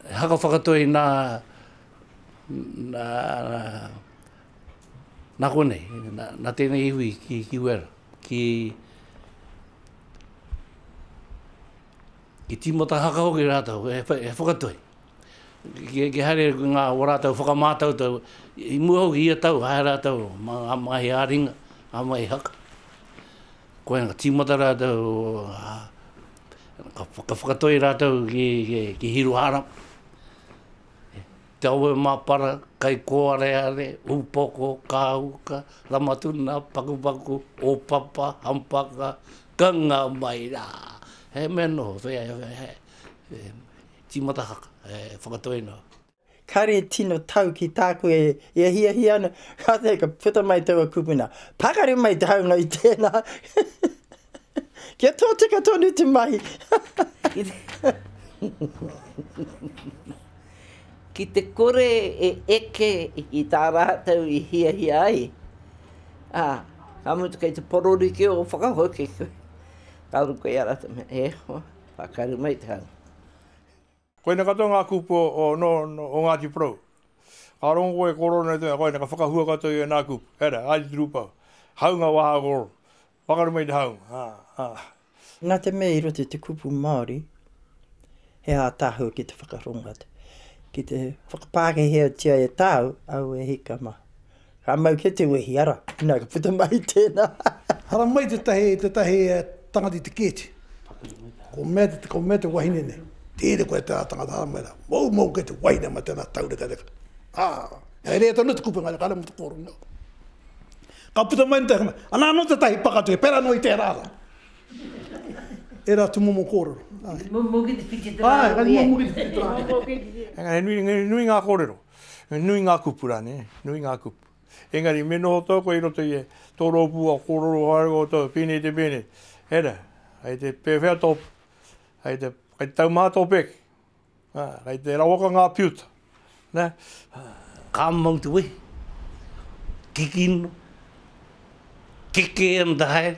He haka whakatoi nā, nā, nā konei, nā, nā tēnei iwi ki, ki Wera, ki, ki tīmata haka hoki rātou, he, he whakatoi. Ki, ki haere ngā o rātou whakamātautau, i mua hoki ia tau, haere rātou mā ngā mahi ā-ringa, ngā mahi haka. Koia ka tīmata rātou, ka whakatoi rātou ki Hiruhara, Te Awe-mapara, Kaikōareare, Upoko, Kāuka, Ramatuna, Pakupaku, Ōpapa, Hampaka, ka nga mai rā. He mea noho, tīmata haka, whakatoi noa. Kare tino tau ki tāku e hiahia ana, kātahi ka puta mai taua kupuna, Pakari mai te haunga i tēnā! Kia tōtika tonu te mahi! Ki te kore e eke i tā rātou i hiahia ai, ā, ka mutu kei te pororikī o whakahoki koe, ka ora koe i a rātou, E hoa, pakari mai te haunga. Koina katoa ngā kupu o Ngāti Porou. Ka rongo koe e kōrero nei te mea, koina ka whakahua katoa i ēnā kupu. Hei rā, haere te rūpau. Hāunga wā hā kōrero. Pakaru mai te hāunga. Nā te mea i roto i te kupu Māori, he ātaahua ki te whakarongo atu, ki te whakapākehētia e tāu, au e hika mā. Ka mau kē te wehi, ara, nā, ka puta mai tēnā. Ara mai tētahi, tētahi tangata i te kēti. Ko mea, ko mea te wahine nei, Tēnei koe tērā tangata, ara mai rā, moumou kē te wahine mai tēnā taurekareka. Ā, he rerekē tonu te kupenga nei, kāre motu kōrero nei. Ka puta mai tētahi, anā anō tētahi pakatu he pērā noa i tērā rā. Ērā atu momo kōrero. Moumou kē te whiti tērā rā. Āe, moumou kē te whiti tērā rā. Engari he nui, he nui ngā kōrero. Nui ngā kupu rā, nē, nui ngā kupu. Engari, me noho tau koe i roto i tō rōpū a kōrero haere koutou, pēnei te pēnei, hei rā, kei te pēwhea tō, kei te, kei te taumaha tō pēke, ā, kei te rawaka ngā piuta, nē, ā. Ka mau te wehi, kikino, keke and haere.